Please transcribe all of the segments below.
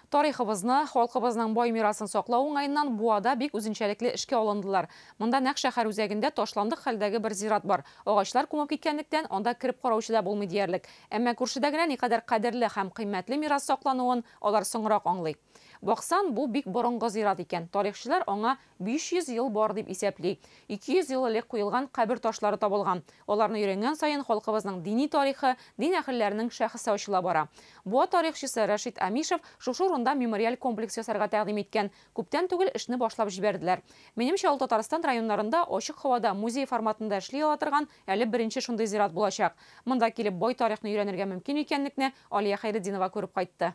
Тарихыбызны, халкыбызның бай мирасын саклау уңаеннан Буада бик үзенчәлекле эшкә алындылар. Монда нәкъ шәһәр үзәгендә ташландык хәлдәге бер зират бар. Агачлар күмеп киткәнлектән, анда кереп караучы да булмый диярлек. Әмма күршедә генә никадәр кадерле һәм кыйммәтле мирас саклануын алар соңрак аңлый. Баксаң, бу бик борынгы зират икән, тарихчылар аңа 500 ел бар дип исәпли. 200 ел элек куелган кабер ташлары табылган. Аларны өйрәнгән саен халкыбызның дини тарихы, дин әһелләренең шәхесе ачыла бара. Буа тарихчысы Рәшит Амишев шушы урында мемориаль комплекс ясарга тәкъдим иткән. Күптән түгел эшне башлап җибәрделәр. Минемчә, ул Татарстан районнарында ачык һавада музей форматында эшли ала торган әле беренче шундый зират булачак. Монда килеп бай тарихны өйрәнергә мөмкин икәнлекне Алия Хәйретдинова күреп кайтты.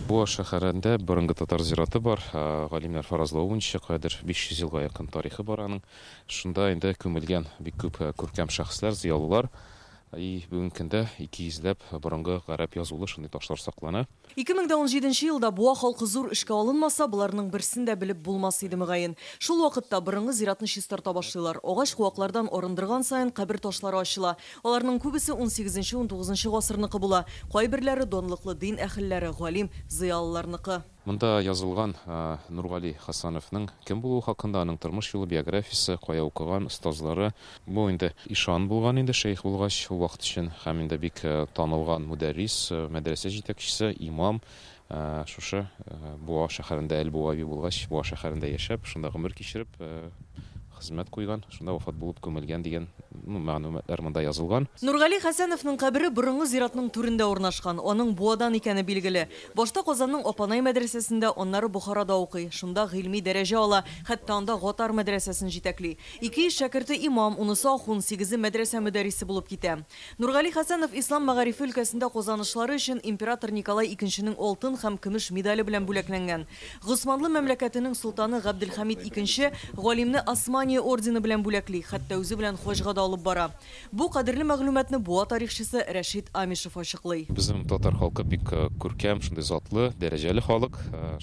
Буа шәһәрендә борынгы татар зираты бар. Галимнәр фаразлавынча, каядыр 500 елга якын тарихы бар аның. Шунда инде күмелгән бик күп күркәм шәхесләр, зыялылар. И бүгенге көндә ике йөзләп борынгы гарәп язулы шундый ташлар саклана. Ике мең дә унҗиде нче елда Буа халкы зур эшкә алынмаса, боларның берсен дә белеп булмас иде, мөгаен. Шул вакытта борынгы зиратны чистарта башлыйлар. Агач куаклардан арындырган саен, кабер ташлары ачыла. Аларның күбесе унсигезенче-унтугызынчы гасырныкы була, кайберләре данлыклы дин әһелләре, галим, зыялыларныкы. Монда язылган Нургали Хәсәновның кем булуы хакында, аның тормыш юлы, биографиясе, кая укыган, остазлары. Бу инде ишан булган инде, шәех булгач, ул вакыт өчен, һәм инде бик танылган мөдәррис, мәдрәсә җитәкчесе, имам, Шушы Буа шәһәрендә Әл-Буави булгач, Буа шәһәрендә яшәп, шунда гомер кичереп, хезмәт куйган, шунда вафат булып күмелгән дигән мәгълүматлар монда язылган. Нургали Хәсәновның кабере борынгы зиратның түрендә урнашкан. Аның Буадан икәне билгеле. Башта Казанның Апанай мәдрәсәсендә, аннары Бохарада укый. Шунда гыйльми дәрәҗә ала, хәтта анда Гатар мәдрәсәсен җитәкли. Ике йөз шәкерте имам, унысы ахун, сигезе мәдрәсә мөдәррисе булып китә. Нургали Хәсәнов ислам мәгарифе өлкәсендә казанышлары өчен император Николай икенченең алтын һәм көмеш медале белән бүләкләнгән. Госманлы мәмләкәтенең солтаны Габделхәмид икенче галимне Османия ордены белән бүләкли, хәтта үзе белән хаҗга да алып бара. Бу кадерле мәгълүматны Буа тарихчысы Рәшит Амишев ачыклый. Безнең татар халкы бик күркәм, шундый затлы, дәрәҗәле халык.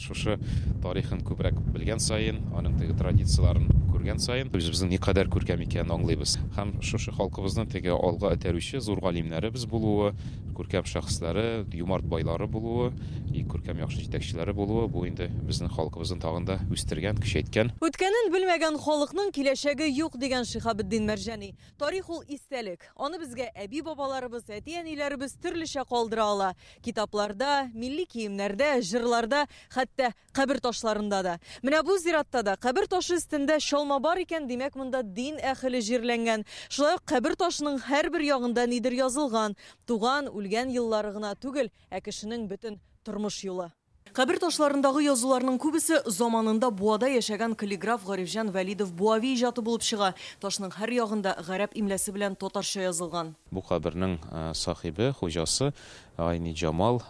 Шушы тарихын күбрәк белгән саен, аның теге традицияләрен күргән саен, үзебезнең никадәр күркәм икәнен аңлыйбыз. Һәм шушы халкыбызны теге алга этәрүче зур галимнәребез булуы, күркәм шәхесләре, юмарт байлары булуы, и күркәм яхшы җитәкчеләре булуы, бу инде безнең халкыбызны тагын да үстергән, көчәйткән. Үткәнен белмәгән халыкның киләчәге юк, дигән Шиһабетдин Мәрҗани. Тарих ул истәлек. Аны безгә әби-бабаларыбыз, әти-әниләребез төрлечә калдыра ала. Китапларда, милли киемнәрдә, җырларда, хәтта кабер ташларында да. Менә бу зиратта да кабер ташы өстендә чалма бар икән, димәк, монда дин әхеле җирләнгән. Шулай ук кабер ташының һәрбер ягында нидер язылган, туган, үлгән еллары гына түгел, ә кешенең бөтен тормыш юлы. Кабер ташларындагы язуларның күбесе заманында Буада яшәгән каллиграф Гарифҗан Вәлидов Буави иҗаты булып чыга, ташның һәр ягында гарәп имлясы белән татарча язылган. Бу кабернең сахибе, хуҗасы Гайниҗамал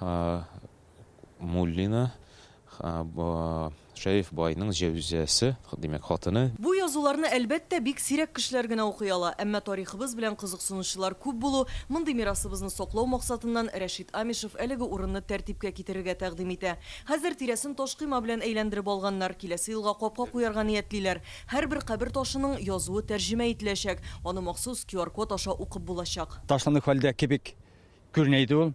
Муллина, Шәриф байның Җәүзәсе, димәк, хатыны. Бу язуларны, әлбәттә, бик сирәк кешеләр генә укый ала. Әмма тарихыбыз белән кызыксынучылар күп булу, мондый мирасыбызны саклау максатыннан Рәшит Амишев әлеге урынны тәртипкә китерергә тәкъдим итә. Хәзер тирәсен таш койма белән әйләндереп алганнар, киләсе елга капка куярга ниятлиләр. Һәрбер кабер ташының язуы тәрҗемә ителәчәк, аны махсус QR-код аша укып булачак. Ташландык хәлдә кебек Көлне иде ул.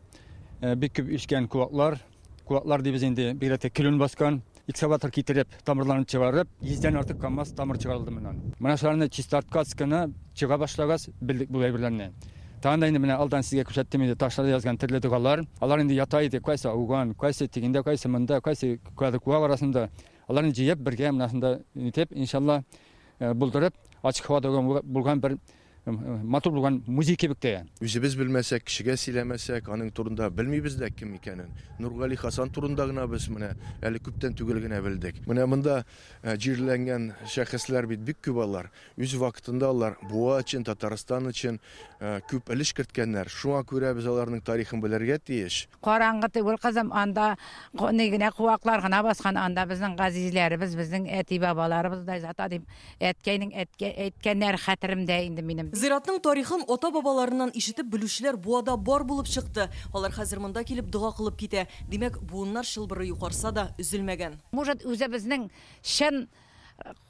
Э, бик күп үскән куаклар. Куаклар дибез инде, бигрәк тә көлен баскан. Экскаватор китереп, тамырларын чыгарып, 100 артык КАМАЗ тамыр чыгарылды моннан. Менә шуларны чистарткач кына чыга башлагач, белдек бу әйберләрне. Тагын да инде менә алдан сезгә күрсәттем инде ташлар язган төрле догалар. Алар инде ята иде, кайсы ауган, кайсы тигендә, кайсы монда, кайсы куады куак арасында. Аларны җыеп бергә монасында итеп, иншалла, э, булдырып, ачык һавада булган бер матур булган музей кебек тә. Үзебез белмәсәк, кешегә сөйләмәсәк, аның турында белмибез дә кем икәнен. Нургали Хасан турында гына без менә әле күптән түгел генә белдек. Менә монда җирләнгән шәхесләр бит бик күп алар. Үз вакытында алар Буа өчен, Татарстан өчен күп өлеш керткәннәр. Шуңа күрә без аларның тарихын белергә тиеш. Караңгы түгел, кызым, анда ни генә куаклар гына баскан, анда безнең газизләребез, безнең әти-бабаларыбыздай зата, дип. Әткәйнең әткә әйткәннәр хәтеремдә инде минем. Зиратның тарихын ата-бабаларыннан ишетеп белүчеләр Буада бар булып чыкты. Алар хәзер монда килеп дога кылып китә. Димәк, буыннар чылбыры юкарса да, өзелмәгән. Может, үзебезнең чын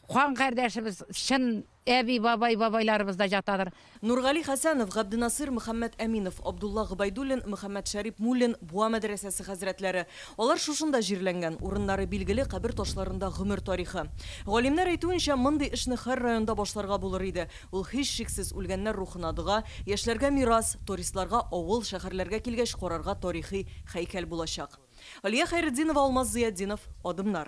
кан кардәшебез, чын әби-бабай-бабайларыбызда ятадыр. Нургали Хәсәнов, Габденасыйр Мөхәммәтәминов, Абдулла Гобәйдуллин, Мөхәммәтшәрип Муллин, Буа мәдрәсәсе хәзрәтләре. Алар шушында җирләнгән, урыннары билгеле, кабер ташларында гомер тарихы. Галимнәр әйтүенчә, мондый эшне һәр районда башларга булыр иде. Ул, һичшиксез, үлгәннәр рухына дога, яшьләргә мирас, туристларга авыл, шәһәрләргә килгәч карарга тарихи һәйкәл булачак. Алия Хәйретдинова, Алмаз Зыятдинов, Адымнар.